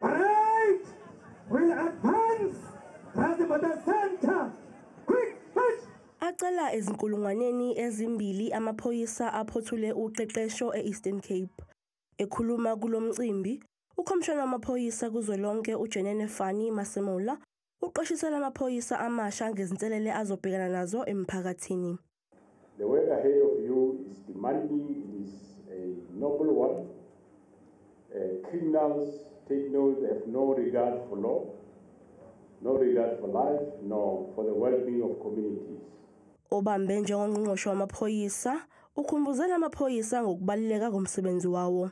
Right! We advance! Razimada Center! Quick push! Acela ezinkulungwaneni ezimbili amaphoyisa aphothule uqeqesho e-Eastern Cape. Ekhuluma kulo mcimbi, ukhomishana wamaphoyisa kuzwelonke uJenene Fani Masemola uqwashisela amaphoyisa amasha ngezinselele azobhekana nazo emphakathini. The work ahead of you is demanding, it is a noble one. Uh, criminals take note, they have no regard for law, no regard for life, nor for the well-being of communities. Obambe njengongqongqoshe wamaphoyisa ukhumbuzela amaphoyisa ngokubaluleka komsebenzi wawo.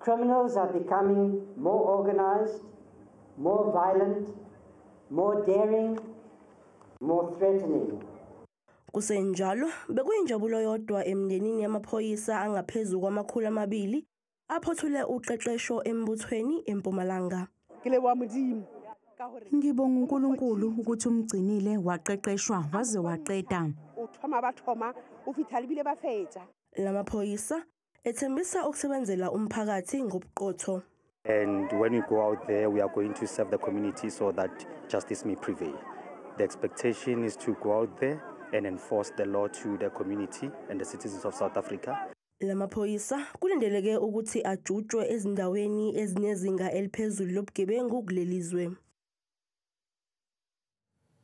Criminals are becoming more organized, more violent, more daring, more threatening. Kusenjalo bekuyinjabulo yodwa emndenini yamaphoyisa angaphezulu kwamakhulu amabili aphothule uqeqesho embuthweni eMpumalanga. Kile wamdimo Ngibonga uNkulunkulu ukuthi umgcinile waqeqeshwa waze waqeda. Uthoma bathoma ufithalibile bafetha. Lamaphoyisa Ethembisa ukusebenzela umphakathi ngobuqotho. And when we go out there, we are going to serve the community so that justice may prevail. The expectation is to go out there and enforce the law to the community and the citizens of South Africa. Lamaphoyisa kulindeleke ukuthi ajutshwe ezindaweni ezinezinga eliphezulu lobugebengu kulelizwe.